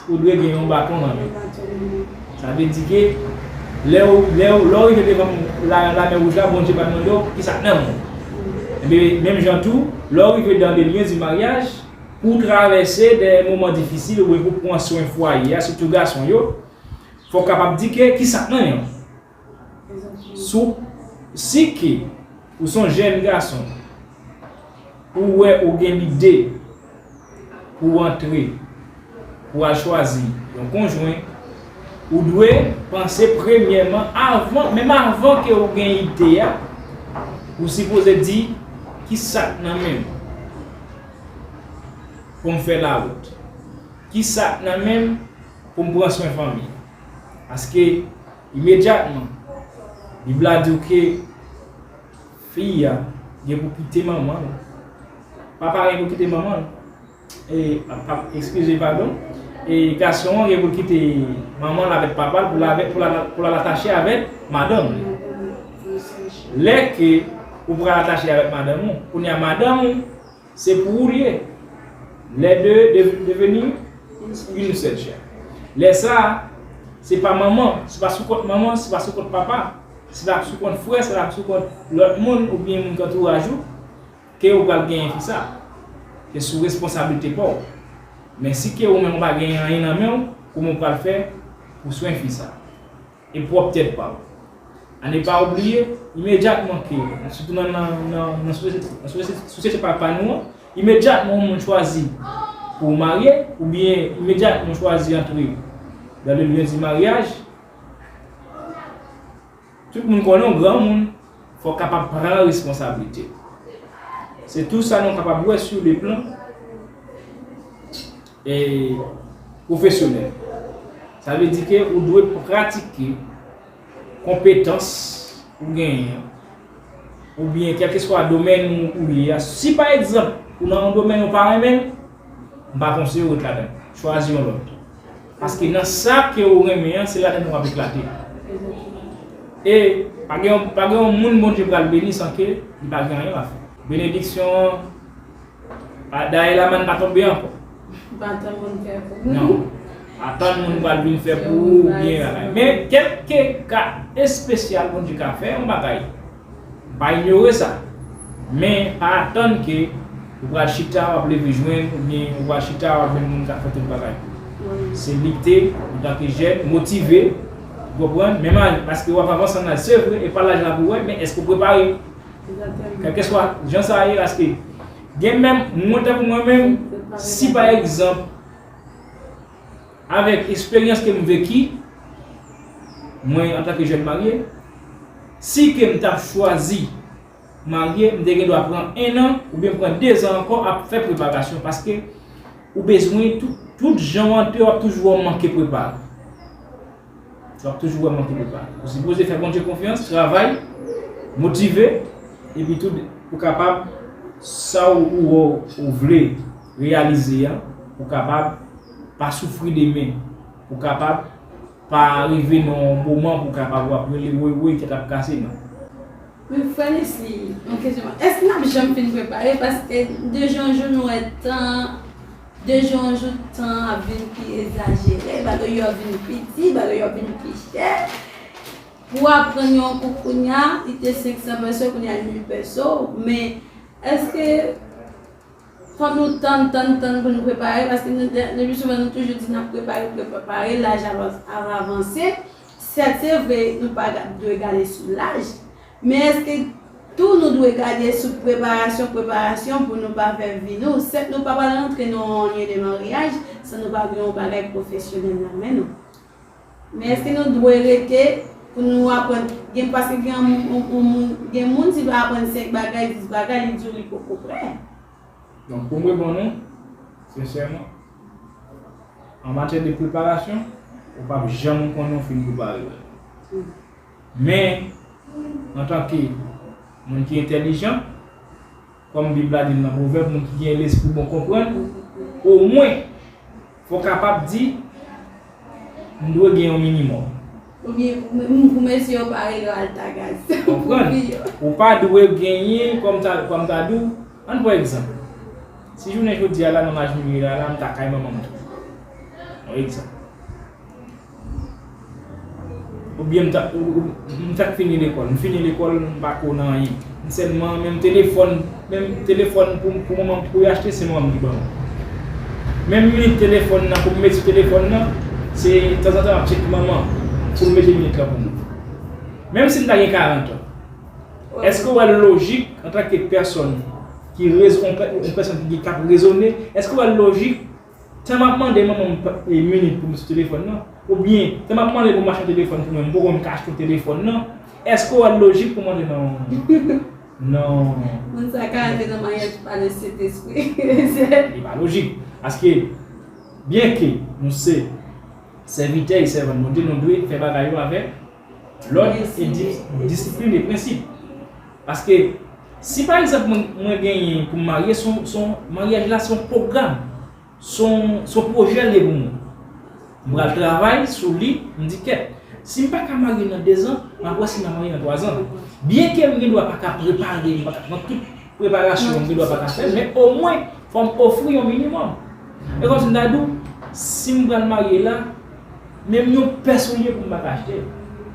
Ou dwe gen yon baton nan men ou. Sa vle di ke lè ou, lè ou, lè ou rive devan la, lamè wouj la, Bondye pa mande w ki sa k nan men w. Enben, menm jan tou, lè ou rive dan de lyen di maryaj, pou w travèse dè moman difisil oubyen pou w pran swen fwaye a, sitou gason yo, fò w kapab di ke ki sa k nan men w. Sou si ke ou son jèn gason ou wè ou gen lide pou antre pou al chwazi yon konjwen ou dwe panse premyèman avan menm avan ke ou gen ide a ou sipoze di kisak nan menm poum fè lawout kisak nan menm poum pran swen fanmi. Paske, imedyatman, Bib la di w ke fi a gen pou kite manman l. Papa a gen pou kite manman l. E, ekskize, padon. E gason an gen pou l kite manman l avèk papa l pou l al atache avèk madanm li. Lè ke ou pral atache avèk madanm ou, kounye a madanm ou. Se pou ou l ye. Les deux dev deveni une seule chair. Lè sa a, se pa manman, se pa sou kont manman, se pa sou kont papa, se pa sou kont frè, se pa sou kont lòt moun oubyen moun kantouraj ou ke ou pral genyen fi sa. Se sou responsablite pa w. Men si ke ou menm ou pa genyen anyen nan men w, kouman ou pral fè pou swen fi sa? E pwòp tèt pa w. An e pa oubliye, imedyatman ke, sitou nan nan sosyete pa nou an, imedyatman yon moun chwazi pou marye, oubyen imedyatman chwazi antre dans le lieu du mariage, tout moun konnen w granmoun, fò w kapab pran responsablite. Se tou sa nou kapab wè sou le plan. E pwofesyonèl. Sa vle di ke ou dwe pratike konpetans ou genyen an, oubyen kèlkeswa domèn ou ye a. Si pa egzanp, ou nan yon domèn ou pa renmen, m pa konseye w ret ladan l. Chwazi yon lòt. Paske nan sa ke ou renmen an, se ladan l ou ap eklate. E pa gen yon moun Bondye pral beni san ke li pa gen anyen l ap fè. Benediksyon an. Pa daye la man pa tonbe anko. Pa tann moun fè pou ou. Non. Pa tann moun pral vin fè pou ou ou byen bagay. Men kèlke ka espesyal Bondye ka fè yon bagay. M pa inyore sa. Men pa atann ke ou pral chita wap leve jwenn ou byen ou pral chita wap jwenn moun ka fè tout bagay pou ou. Se lite antanke jèn, motive, ou konprann? Menm ane paske wap avanse nan laj se vre e pa laj la pou wè men eske ou prepare? Kèlkeswa jan sa ye paske gen menm mwen tankou mwen menm si pa egzanp avèk esperyans ke m veki mwen antanke jèn marye si ke m ta chwazi marye m te gen dwa pran 1 an oubyen m pran 2 zan ankò ap fè preparasyon paske ou bezwen tout jan w antre w ap toujou wè w manke prepare. Wap toujou wè manke prepare. Ou sipoze fè Bondye konfyans, travay, motive, epi tou ou kapab sa ou wè ou vle reyalize an, ou kapab pa soufri demen, ou kapab pa rive nan yon moman pou kapab wap rele woy woy tèt ap kase nan. Mwen kwè li si yon kesyon pa. Eske nap janm fin prepare paske de jou an jou nou wè tan an de jou an jou tan an ap vin pi ezajere bagay yo ap vin pi di bagay yo ap vin pi chè pou aprann yon kou kounya li te 500 pèso kounya li 1000 pèso men eske fòk nou tann tann tann pou nou prepare paske le pi souvan nou toujou di nap prepare pou prepare laj ap avanse. Sèt se vre nou pa dwe gade sou laj, men èske tou nou dwe gade sou preparasyon preparasyon pou nou pa fè vi nou? Sèt nou pa pral rantre nan yon anyen de maryaj san nou pa gen yon bagay pwofesyonèl nan men nou. Men èske nou dwe rete pou nou aprann gen paske gen yon moun gen moun si pa aprann senk bagay dis bagay li di w li poko prè. Donk pou m reponn ou sensèman. An matyè de preparasyon, ou p ap janm konnen ou fin prepare wè. Men, antanke moun ki entèlijan, kòm Bib la di l nan Pwovèb, moun ki gen lespri bon konprann, omwen, fò w kapab di, M dwe gen yon minimòm. Oubyen pou mesye yo pa rele w Altagaz. Konprann? Ou pa dwe genyen, kòm m ta di w, ann pran egzanp, si jounen jodi a la nan Maj Miri la la m ta kay manman m tou. Yon egzanp. Oubyen m ta m ta fini lekòl. M fini lekòl m pa ko nan anyen. M sèlman menm telefòn. Menm telefòn pou pou manmanm pou yo achte se manmanm ki banm. Menm minit telefòn nan pou m met sou telefòn nan se tanzantan map tcheke manman pou l mete minit lan pou mwen. Menm si m ta gen 40 an. Èske ou wè l lojik antan ke pèsòn ki rezon on pè on pèsòn ki kap rezone èske ou wè l lojik tan map mande manmanm e minit pou m sou telefòn nan oubyen tan map mande pou m achte yon telefòn pou mwen m poko menm ka achte yon telefòn nan èske ou wè l lojik pou mande manmanm Non. Moun sa ka ale nan maryaj pou pale Sentespri. Li pa lojik. Paske, byenke nou se sèvitè e sèvant Bondye, nou dwe fè bagay yo avèk lòd e disiplin e prensip. Paske, si pa egzanp mwen genyen pou m marye, maryaj la se yon pwogram. Son pwojè liye pou mwen. M pral travay sou li, m di kèt. Si m pa ka marye nan dezan, m ap wè si m a marye nan twazan. Byenke m gen dwa pa ka prepare m, pa ka pran tout preparasyon m gen dwa pa ka fè l, men omwen fò m ofri yon minimòm. E kòmsi m ta di w, si m pral marye la, menm yon pè soulye pou m pa ka achte.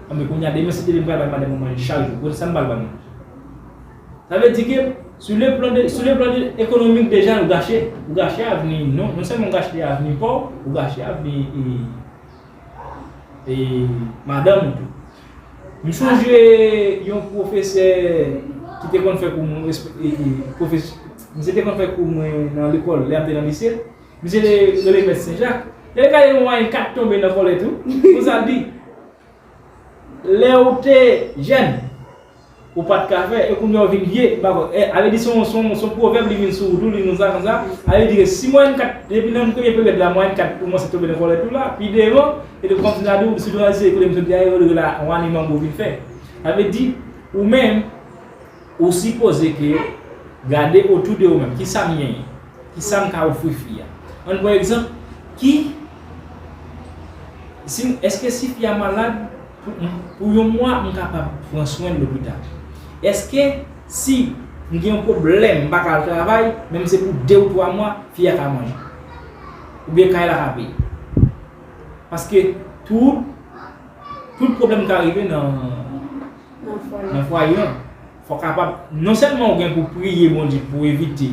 Anben kounya demen si te vin m pral bay madam mwen manje chak jou, bon sa m pral ba l manje? Sa vle di ke sou le plan de, sou le plan de ekonomik deja ou gache, ou gache avni, non, non sèlman ou gache avni pa w, ou gache avni e madanm ou tou. M sonje yon pwofesè ki te konn fè kou mwen, misye te konn fè kou mwen nan lekòl lè m te nan lise, misye te rele mèt Senjak, lè l gade mwen e kat tonbe nan kòlèt ou, konsa l di, Lè ou te jèn, Ou pat ka fè e kounya ou vin ye pa bon e ale di son son son pwovèb li vin sou ou tou li konsa konsa ale di ke si mwayèn 4 depi nan premye peryòd la mwayèn 4 koumanse tonbe nan kòlèt ou la pi devan e li kontinye ap di ou sitou nan lise kote m soti a e yo rele la wani manbo vin fè sa vle di ou menm ou sipoze ke gade otou de ou menm ki sa m genyen ki sa m ka ofri fi a an n pran egzanp ki si m èske si fi a malad. Pou yon mwa m kapab pran swen lopital. Eske si m gen yon pwoblèm m pa ka al travay, menm se pou 2 ou 3 mwa, fi a ka manje? Oubyen kay la ka peye? Paske tout tout pwoblèm ka rive nan nan fwaye an. Fò kapab non sèlman ou gen pou priye Bondye pou evite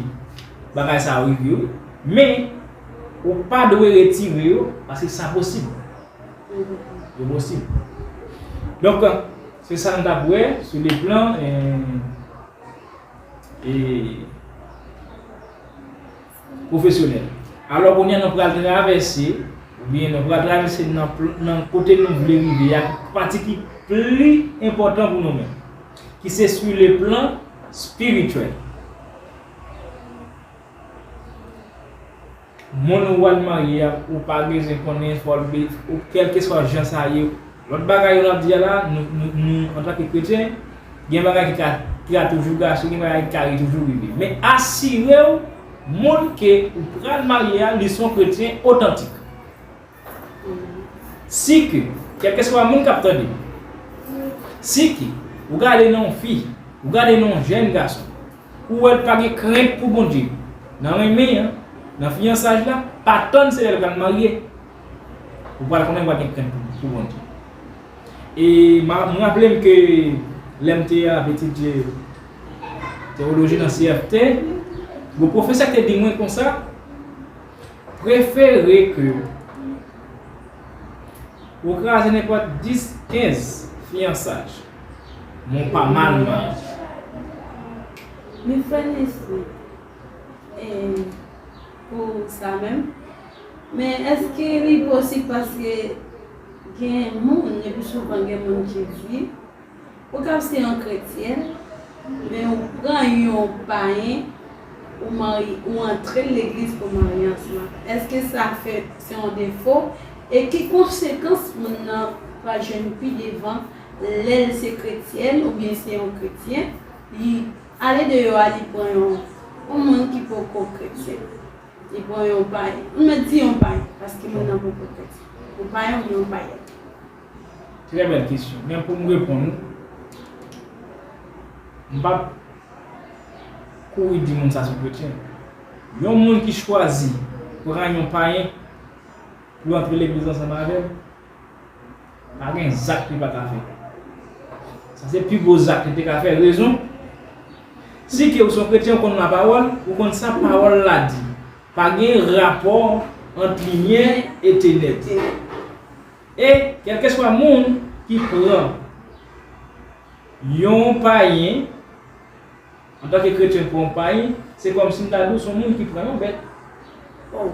bagay sa yo rive ou, men ou pa dwe retire yo paske sa posib. Yo posib. Donk, se sa n t ap wè sou le plan pwofesyonèl. Alò, kounye a nou pral travèse, oubyen nou pral travèse nan kote nou vle rive a, pati ki pli enpòtan pou nou menm, ki se sou le plan espirityèl. Moun ou wèl marye a ou pa bezwen konnen fòl be ou kèlkeswa jan sa ye lòt bagay yo nap di a la nou antanke kretyen gen bagay ki ka ki ka toujou gache gen bagay ki ka toujou rive men asirew moun ke ou pral marye a li son kretyen otantik. Si ke, kèlkeswa moun k ap tande m, si ke ou gade nan yon fi, ou gade nan yon jèn gason, ou wè l pa gen krent pou Bondye nan renmen an, nan fiyansaj la, pa tann se lè l pral marye ou pral konnen l pa gen krent pou Bondye. E m raple m ke lè m te ap etidye tewoloji nan CFT, yon pwofesè te di mwen konsa, Prefere ke ou kraze nenpòt 10, 15 fiyansaj. Men w pa mal nan li. Min fè n espri pou sa menm. Men èske li posib paske gen moun, le pi souvan gen moun ki di. Ou kab se yon kretyèn, men ou pran yon payen ou marye, ou antrel legliz pou maryaj lan. Eske sa fè se yon defo? E ki konsekans moun nan pral jwenn pi devan lèl se kretyèn oubyen se yon kretyen li ale deyò a li pran yon moun ki poko kretyen, li pran yon payen. M mèt di yon payen paske moun nan poko kretyen. Yon payen oubyen yon payèn. Trè bèl kesyon. Men pou m reponn ou, m p ap kouri di moun sa son kretyen. Yon moun ki chwazi pran yon payen pou l antre legliz ansanm avè l, pa gen zak li pa ka fè. Sa se pi gwo zak li te ka fè. Rezon, si ke ou son kretyen ou konn lapawòl, ou konn sa pawòl la di. Pa gen rapò ant limyè e tenèb. E kèlkeswa moun ki pran yon payen antanke kretyen pran yon payen, se kòmsi m ta di w se yon moun ki pran yon bèt. O!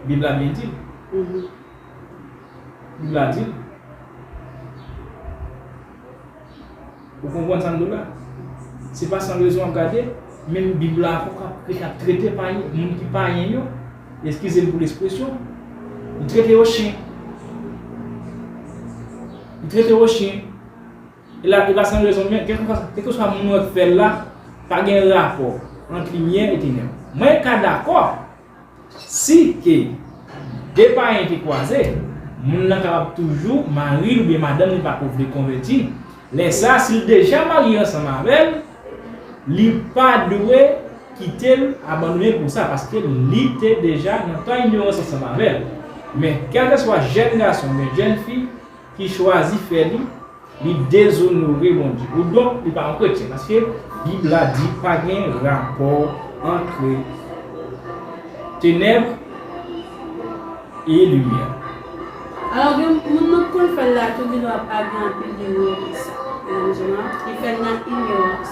Bib la byen di l. Bib la di l. Ou konprann sa m di w la? Se pa san rezon w ap gade, menm Bib la ankò k ap ki t ap trete payen, moun ki payen yo, eskize m pou lespresyon, li trete yo chen. Li trete yo chen. E la, e pa san rezon men, kèlkeswa, kèlkeswa moun wè k fè l la, pa gen rapò ant limyè e tenèb. Mwen ka dakò Si ke 2 payen te kwaze, moun nan kapab toujou, mari l oubyen madanm li pako vle konvèti, lè sa a si l deja marye ansanm avè l, li pa dwe kite l abandone l pou sa paske li te deja nan tan inyorans ansanm avè l. Men kèlkeswa jèn gason oubyen jèn fi, ki chwazi fè li, li dezonore Bondye. Ou donk, li pa yon kretyen. Paske, Bib la di pa gen rapò antre tenèb e limyè. Alò gen moun nou t konn fèl la tou di nou ap avi anpil li wè sa. Menm jan li fèl nan inyorans.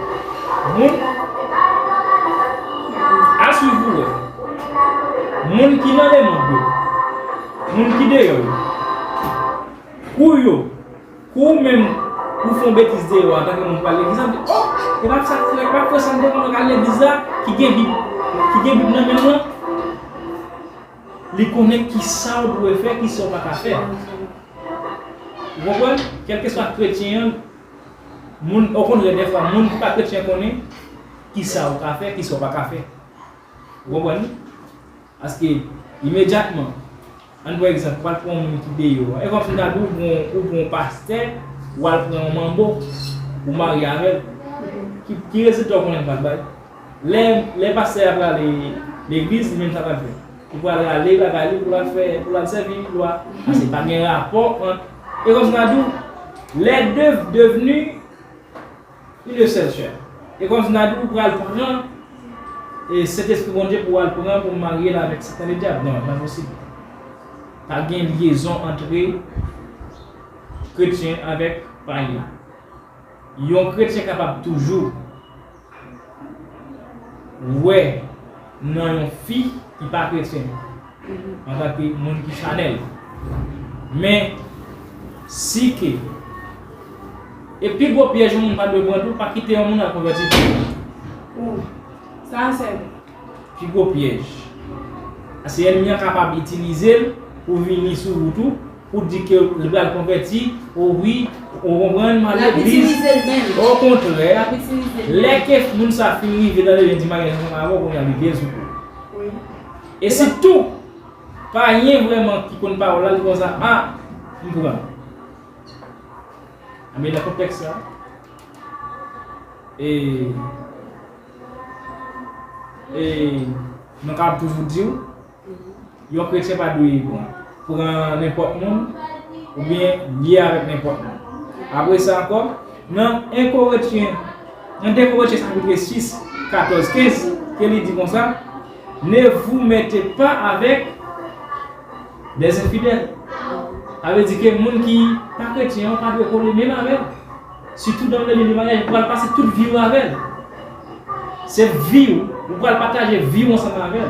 Moun A swiv pou wè Moun ki nan lemond yo Moun ki deyò yo Kou yo Kou ou menm Ou fon betiz deyò antanke moun pral legliz an Oh e pa sa frè e pa pou sa m te konn al legliz la ki gen bib ki gen bib nan men l lan Li konnen kisa ou dwe fè kisa ou pa ka fè Ou konprann kèlkeswa kretyen an Moun, okontrè dèfwa moun ki pa kretyen konnen kisa ou ka fè, kisa ou pa ka fè. Ou konprann ni? Paske, imedyatman, ann pran egzanp, ou al pran yon moun ki deyò an, e kòmsi m ta di w ou pran yon, ou pran yon pastè, ou al pran yon manbo, ou marye avè l. Ki rezilta ou konnen l pral bay? Lè lè pastè a prale legliz li menm sa lap jwenn. Li pral rale bagay li pou lal fè pou lal sèvi lwa pase pa gen rapò ant e kòm sa Nadou lè de devni une sèl chè e kòm sa Nadou pral pran e sentespri Bondye pou al pran pou maryel avèk satan le dyab nan nan posib pa gen lyezon antre kretyen avèk payen yon kretyen kapab toujou wè nan yon fi ki pa kretyen antanke moun ki chanèl men si ke e pi gwo pyèj yon moun pa dwe pran tou pa kite yon moun al konvèti tou sa a se pi gwo pyèj paske ènmi an kapab itilize l pou vini sou ou tou Ou di ke li pral konvèti, ou ri, ou konprann, m al legliz. L ap itilize l menm. O kontrè, lè ke moun sa fin rive tande li di maryaj mwen avè w kounye a li dezouko. Wi. E si tou, payen vrèman ki konn pawòl la li konn sa, a, m pran. Anben nan kontèks sa, e, e, mwen kab toujou di w. Yon kretyen pa dwe pran nenpòt moun oubyen lye avèk nenpòt moun. Apre sa ankò, nan 1 Korentyen, nan 2 Korentyen chapitre 6, 14, 15, ke li di konsa, Ne vous mettez pas avec les infidèles. Sa vle di ke moun ki pa kretyen ou pa dwe kole menm avè l, sitou nan meni de maryaj ou pral pase tout vi ou avè l. Se vi ou, ou pral pataje vi ou ansanm avè l.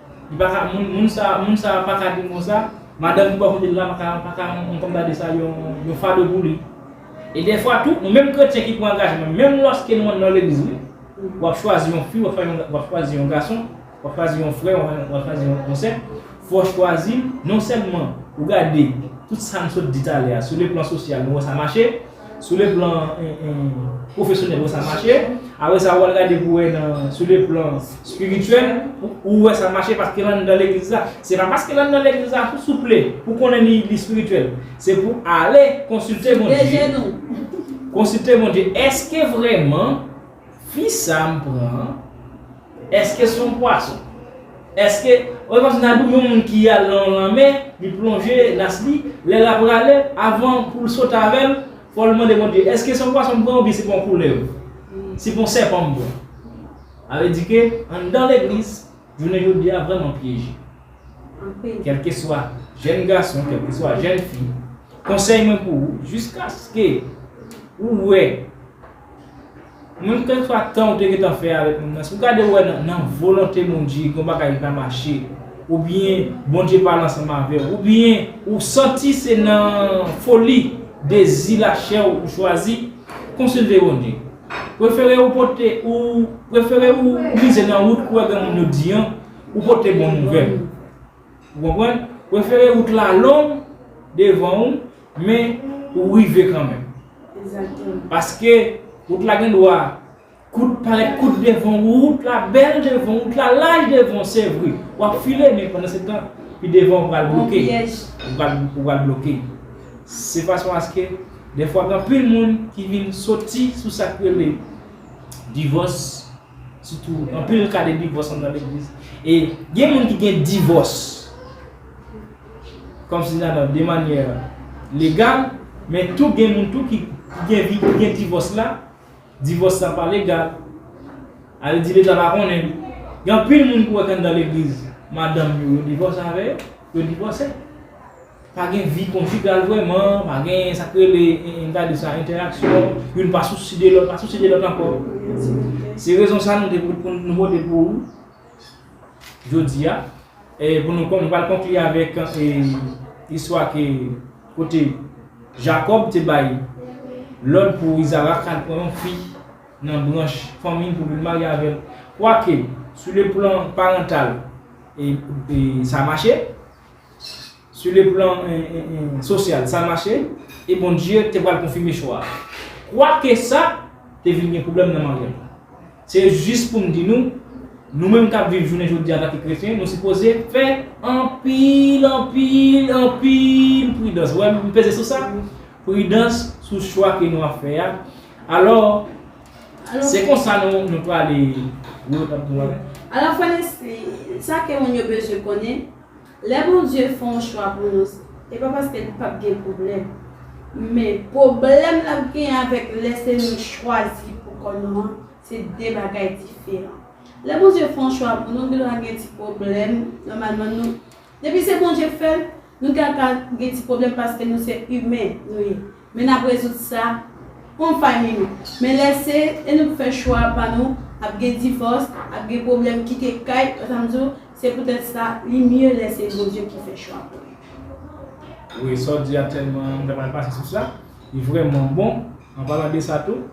Li paka moun moun sa moun sa paka di mo sa madanm ki bò kotel la paka paka yon kòm ta di sa yon yon fado pou li e dèfwa tou nou menm kretyen ki pran angajman menm lòske nou andan legliz wi wap chwazi yon fi wap fè yon wap chwazi yon gason wap chwazi yon frè wap chwazi yon sè fò chwazil non sèlman ou gade tout sa nou sot di talè a sou le plan sosyal nou wè sa mache. Sou le plan pwofesyonèl wè sa mache, apre sa wal gade pou wè nan sou le plan spirityèl ou wè sa mache paske l anndan legliz la. Se pa paske l anndan legliz la pou souple pou konnen li spirityèl. Se pou ale konsilte Bondye. Konsilte Bondye eske vrèman. Fi sa m pran an eske son pwason eske wè kòmsi Nadou yon moun ki al nan yon lanmè li plonje nas li lè lap rale avan poul sot avèl fòl mande Bondye eske son pwason m pran oubyen se pa yon koulèv se pa yon sèpan m pran sa vle di ke anndan legliz jounen jodi a vrèman pyeje kèlkeswa jèn gason kèlkeswa jèn fi konsèy mwen pou ou jiskaske ou wè. Menm kèlkeswa tan ou te gentan fè avèk moun nan, si ou gade ou wè nan volonte Bondye gen yon bagay ki pa mache, oubyen Bondye pa al ansanm avè w, oubyen ou santi se nan foli dezi lachè w ou chwazi, konsilte Bondye. Prefere ou pote, ou prefere ou mize nan wout ou wè gen moun yo di an, ou pote bon nouvèl. Ou konprann? Prefere wout la long devan ou. Men ou rive kanmenm. Paske wout la gen dwa kout parèt kout devan ou wout la bèl devan ou wout la laj devan ou se vre wap file men pandan se tan pi devan ou pral bloke ou pral bloke se fason aske defwa gen anpil moun ki vin soti sou sak rele divòs Sitou anpil ka de divòs anndan legliz. E gen moun ki gen divòs kòm si nan nan de manyè legal, men tou gen moun tou ki gen vi ki gen divòs la, divòs la pa legal. A vle di leta pa konnen. Gen anpil moun ki wè ke anndan legliz, madanm yo yo divòse avè yo, yo divòse. Pa gen vi konjigal vrèman, pa gen sa k rele, n ta di sa, entèraksyon, youn pa sousi de lòt, pa sousi de lòt ankò. Se rezon sa nou te pou nou pote pou ou jodi a, pou nou kon nou pral konkli avèk istwa ke kote Jakòb te bay lòd pou Izarak al pran yon fi nan branch fanmi l pou vin marye avè l. Kwake sou le plan parantal sa mache. Su le plan sosyal, sa mache, e Bondye te pral konfime chwa a. Kwake sa, te vin gen pwoblèm nan maryaj la. Se jis pou m di nou, nou menm k ap viv jounen jodi a antanke kretyen, nou sipoze fè anpil, anpil, anpil pridans, ou wè m peze sou sa? Pridans sou chwa ke nou ap fè a. Alò, se konsa nou prale. Alò, frè Leslie, sa ke moun yo bezwen konnen. Lè Bondye fè yon chwa pou nou se pa paske li pap gen pwoblèm men pwoblèm lap gen avèk lè se nou chwazi pou kò nou an se 2 bagay diferan lè Bondye fè yon chwa pou nou gendwa gen ti pwoblèm nòmalman nou depi se Bondye k fèl nou ka gen ti pwoblèm paske nou se imen nou ye. Men nap rezoud sa on fay minit. Men lè se e nou k fè chwa pa nou, ap gen divòs, ap gen pwoblèm kite kay, ou tanm di w, se poutèt sa li mye lè se Bondye ki fè chwa pou nou. Wi sa w di a tèlman m ta pral pase sou sa, li vrèman bon, an palan de sa tou,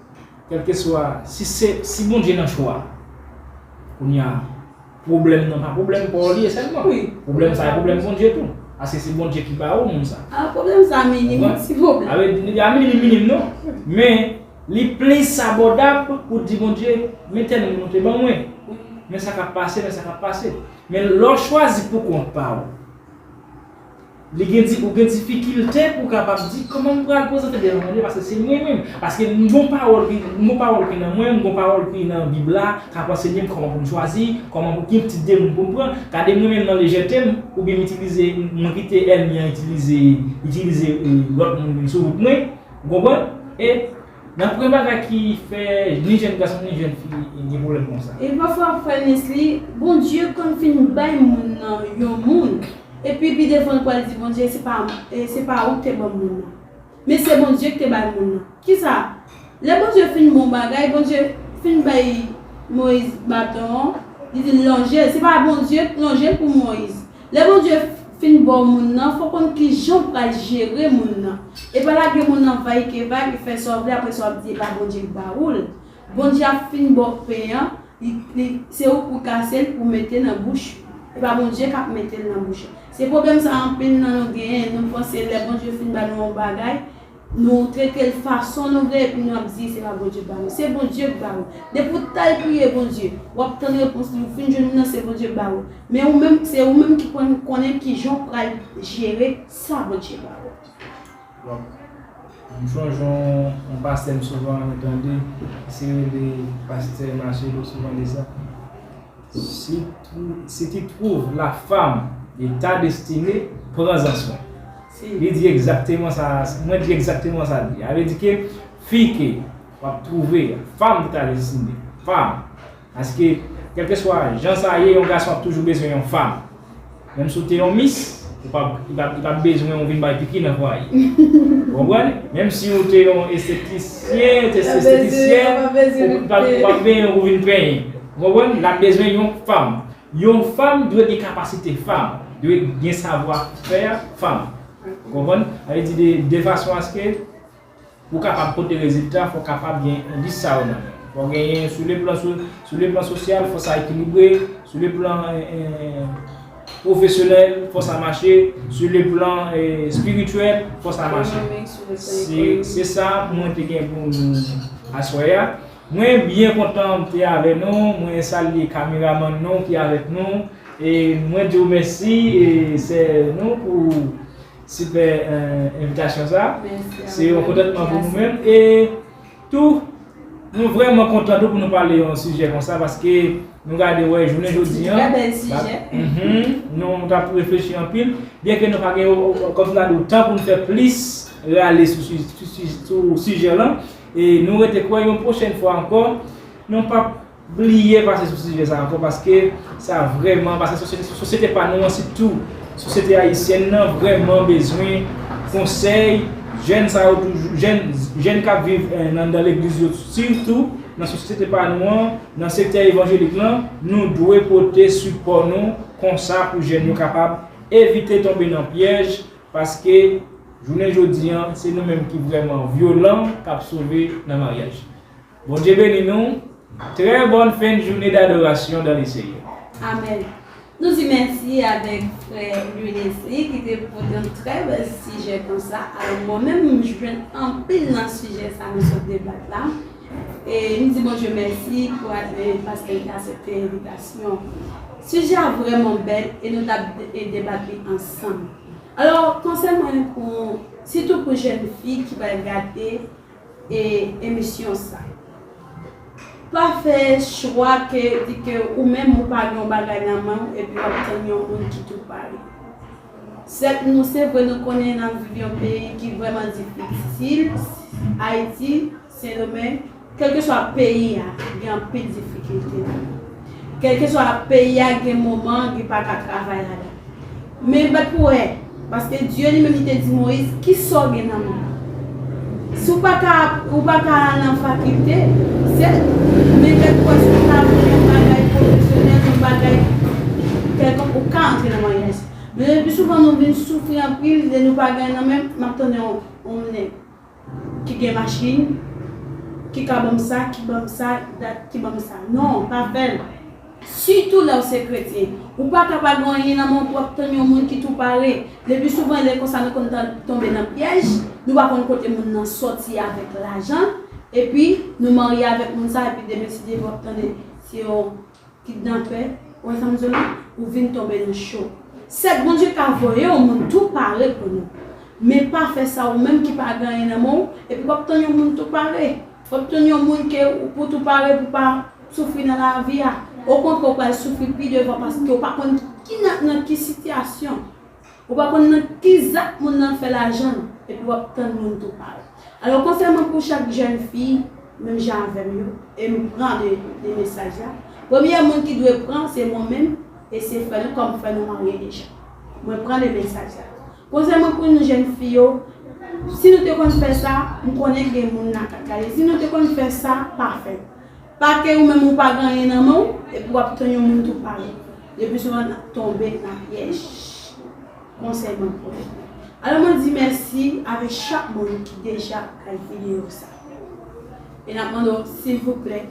kèlkeswa si se si Bondye nan chwa kounya. Pwoblèm nan pa pwoblèm paw li ye sèlman. Pwoblèm sa e pwoblèm Bondye tou. Paske se Bondye ki ba ou moun sa. Ah pwoblèm sa minim wi ti pwoblèm. Awe li pa minim minim non. Men li plis abòdab pou di Bondye men tèl moun ou te ban mwen. Men sa kap pase men sa kap pase. Men lè w chwazi pou kont pa ou. Li gen di, ou gen difikilte pou w kapab di, kòman m pral prezante devan Bondye paske se mwen menm. Paske m gen yon pawòl ki, m gen yon pawòl ki nan mwen, m gen yon pawòl ki nan Bib la k ap ansenye m kòman pou m chwazi, kòman pou, ki tip de moun pou m pran. Gade mwen menm nan lejète m, oubyen m itilize, mwen kite ènmi an itilize, itilize lòt moun vin sou wout mwen. Ou konprann? E. Nan pwen bagay ki fè ni jèn gason ni jèn fi gen pwoblèm konsa. Epi pafwa ap fè nesly Bondye konn fin bay moun nan yon moun epi pi devan li pral di Bondye se pa se pa ou ki te banm moun nan men se Bondye ki te bay moun nan kisa lè Bondye fin bon bagay Bondye fin bay Moyiz baton an li dil lonjel se pa Bondye ki lonjel pou Moyiz Lè Bondye Finn baw moun nan fò konn kijanw pral jere moun nan epa lage moun nan vay ke vay ou fè sa ou vle aprè sa wap di epa Bondye ki ba oul Bondye ap Finn baw pen an li se ou pou kasel pou mete nan bouch ou epa Bondye kap metel nan bouch ou se problèm sa anpil nan nou genyen nou panse lè Bondye Finn ba nou yon bagay Nou tretel fason nou vle epi nou ap di se pa Bondye k ba nou. Se Bondye k ba ou. Depi ou t al priye Bondye, w ap tann repons li. Ou fin jwenn li nan se Bondye k ba ou. Men ou menm se ou menm ki konn konnen kijan ou pral jere sa Bondye ba ou. Donk m sonje yon pastè m souvan renmen tande, li se rele pastè Marcello souvan di sa, si si tu trouves la femme de ta destinee, prends en soin. Li di egzakteman sa, mwen di egzakteman sa l di a. Vle di ke fi ke w ap twouve a, fanm ki ta deside, fanm. Paske, kèlkeswa jan sa ye, yon gason ap toujou bezwen yon fanm. Menm si w te yon mis, ou pa, li pa, li pa p bezwen ou vin bay piki nan fwaye. Ou konprann? Menm si ou te yon estetisyen, ou te yon estetisyèn, li pa p bezwen ou pou vin penyen. Ou konprann? L ap bezwen yon fanm. Yon fanm dwe gen kapasite fanm, dwe gen savwa fè fanm. Ou konprann? Sa vle di de fason aske ou kapab pote rezilta fò kapab gen endis sa yo nan men ou. Fò genyen sou le plan sou le plan sosyal fò sa ekilibre, sou le plan pwofesyonèl fò sa mache, sou le plan espirityèl fò sa mache. Se sa mwen te gen pou nou aswè a. Mwen byen kontan mte avè nou mwen salye kameramann nou ki avèk nou e mwen diw mèsi sè nou pou sipè envitasyon sa se yon kontantman pou nou menm e tou nou vrèman kontan tou pou nou pale yon sijè konsa paske nou gade wè jounen jodi an nou tap reflechi anpil byen ke nou pa gen kòm sa nou tan pou nou fè plis rale sou sijè lan E nou rete kwè yon pwochèn fwa ankò nou pap bliye pase sou sijè sa ankò paske sa vrèman paske sosyete pa nou an sitou sosyete ayisyèn nan vrèman bezwen konsèy jèn sa yo toujou jèn k ap viv anndan legliz yo sitou nan sosyete pa nou an nan sektè evanjelik lan nou dwe pote sipò nou konsa pou jèn yo kapab evite tonbe nan pyèj Paske jounen jodi an se nou menm ki vrèman vyolan kap sove nan maryaj. Bondye beni nou, trè bòn fen joune dadorasyon dan le Seyè. Amen. Nou di mèsi avèk frè Louis Nesly ki te pote yon trè bèl sijè konsa. Alò mwen menm m jwenn anpil nan sijè sa nou sot debat la. E m di Bondye mèsi pou ane paske li asepte envitasyon. Sijè a vrèman bèl e nou ta byen debat li ansanm. Alò konsèy mwen pou sitou pou jèn fi ki pral gade e emisyon sa. Pa fè chwa ke di ke ou menm ou pa gen yon bagay nan men w epi w ap tann yon moun ki tou pare. Sèt nou se vre nou konnen nap viv yon peyi ki vrèman difisil ayiti sendomeng kelkeswa peyi a gen anpil difikilte ladan kelkeswa peyi a gen moman li paka travay ladan men bat pou wè paske Dye li menm li te di moyiz kisaw gen nan menw Si w pa ka ap, ou pa ka al nan fakilte, se, men kèk fwa si w ta vle yon bagay pwofesyonèl, yon bagay kèlkonk, ou ka antre nan mwayen enst. Men le pli souvan nou vin soufri anpil lè nou pa gen nan men, m ap tande yon yon nèg ki gen machin, ki ka ban m sa, ki ban m sa, dat, ki ban m sa. Non, pa fè l. Sitou lèw se kretyen. Ou paka pa gen anyen nan menw pou ap tann yon moun ki tou pare. Lepi souvan lè konsa nou konn tonbe nan pyèj, nou pa konn kote moun nan sòti avèk lajan, epi nou marye avèk moun sa epi demen ti demen wap tande se yon kidnapè, ou wè sam di w la, ou vin tonbe nan cho. Sèt Bondye ka voye yon moun tou pare pou nou. Men pa fè sa ou menm ki pa gen anyen nan menw epi wap tann yon moun tou pare. Fòk tounen yon moun ke ou pou tou pare pou pa soufri nan lavi a. Okontrè ou pral soufri pi devan paske ou pa konn ki nan nan ki sitiyasyon, ou pa konn nan ki zak moun nan fè lajan l epi w ap tann moun tou pare. Alò konsèy mwen pou chak jèn fi menm jan avè m yo e m pran de de mesaj la, premye moun ki dwe pran se mwen menm e se frè nou kòm frè nou marye deja. Mwen pran de mesaj la. Konse mwen pou nou jèn fi yo, si nou te konn fè sa, m konnen k gen moun nan k ap gade, si nou te konn fè sa, pa fè. Pa ke ou menm ou pa gen anyen nan men w, epi w ap tann yon moun tou pale. Le pli souvan n ap tonbe nan pyèj. Konsèy mwen pou nou. Alò mwen di mèsi avèk chak moun ki deja gad videyo sa. E nap mande w silvouplè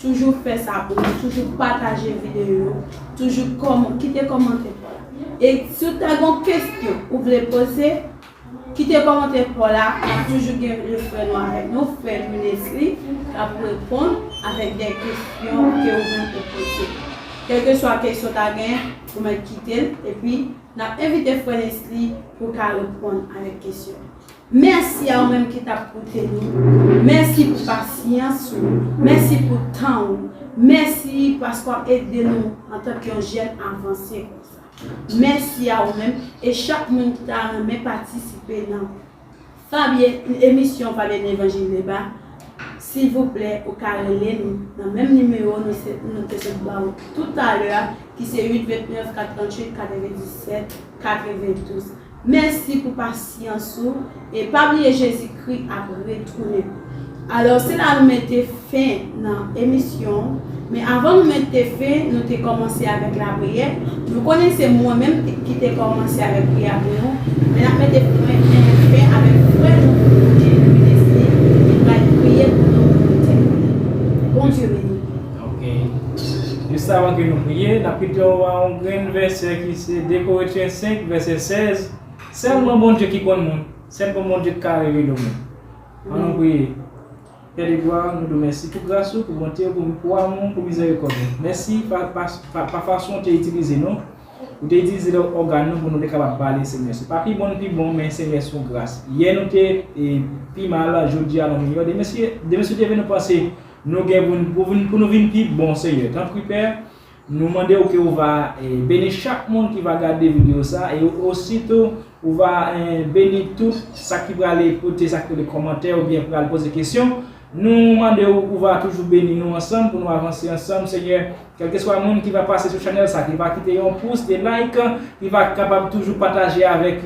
toujou fè sa pou nou, toujou pataje videyo yo, toujou kòman, kite kòmantè paw la. E si w ta gon kesyon ou vle poze, kite kòmantè paw la, nap toujou gen yon frè nou avèk nou, frè Lunesly, kap reponn avèk dè kesyon ke ou menm ou poze. Kèlkeswa kesyon w ta genyen, ou mèt kite l, epi nap envite frè Nesly pou ka reponn avèk kesyon. Mèsi a ou menm ki tap koute nou, mèsi pou pasyans ou, mèsi pou tan ou, mèsi paske w ap ede nou antanke yon jèn avanse konsa. Mèsi a ou menm e chak moun ki ta renmen patisipe nan Fabie emisyon Fabie Levanjil Deba, silvouplè ou ka rele nou nan menm nimewo nou se nou te sot ba ou toutalè a ki se 8 29 4 38 97 92. Mèsi pou pasyans ou e pa bliye Jezi kri ap retounen. Alò se la nou mete fen nan emisyon men avan nou mete fen nou te kòmanse avèk lapriyè nou konnen se mwen menm ki te kòmanse avèk priyè pou nou men nap mete pwen fen avèk frè nou Bondye Louis Desly ki pral priye pou nou pou nou tèmine. Bondye beni nou. Ok. Jis avan ke nou priye, n ap kite w a yon grenn vèsè ki se 2 Korentyen 5 vèsè 16, Sèlman Bondye ki konn moun, sèlman Bondye ki ka revele w moun. An nou priye. Pè de glwa, nou di w mèsi pou gras ou, pou bonte ou, pou amou ou, pou mizèrikòd ou. Mèsi pa fason ou te itilize nou, ou te itilize lè ògàn nou pou nou te kapab pale Senyè. Se pa pi bon nou pi bon, men Senyè se yon gras. Yè nou te pi mal, jodi a nou miyò. Demen si ou te vin nou panse Nou gen pou n pou vin pou nou vin pi bon Senyè tanpri Pè nou mande w ke ou va beni chak moun ki va gade video sa e osi tou ou va beni tout sa ki prale pote sa ki rele kòmantè oubyen pral poze kesyon nou mande w ou va toujou beni nou ansanm pou nou avanse ansanm Senyè. Kelkeswa moun ki va pase sou chanel sa ki pa kite yon pous de like ki va kapab toujou pataje avek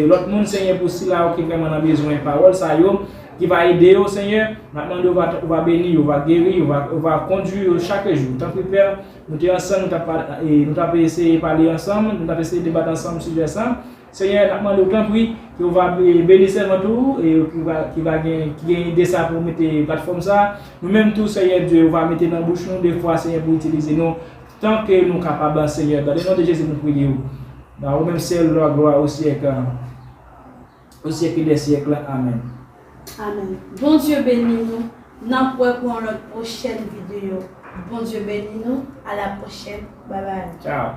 lot moun senyè pou sila yo ki vreman nan bezwen pawol sa yo ki va ede yo senyè nap mande ou va beni yo va geri yo ou va kondwi yo chak jou tanpri pè nou te ansanm nou tap eseye pale ansanm nou tap eseye debat ansanm sijè sa Senyè nap mandew tanpri ke ou va beni sèvant ou ki va gen ki gen ide sa pou mete platfòm sa nou menm tou senyè Dye ou va mete nan bouch nou de fwa senyè pou itilize nou tan ke nou kapab senyè dan le non de Jezi nou priye ou nan ou menm sèl lwa glwa o syèk o syèk de syèk la amen. Amen Bondye beni nou nap wè pou yon lòt prochèn video Bondye beni nou a la prochèn bye bye. Ciao.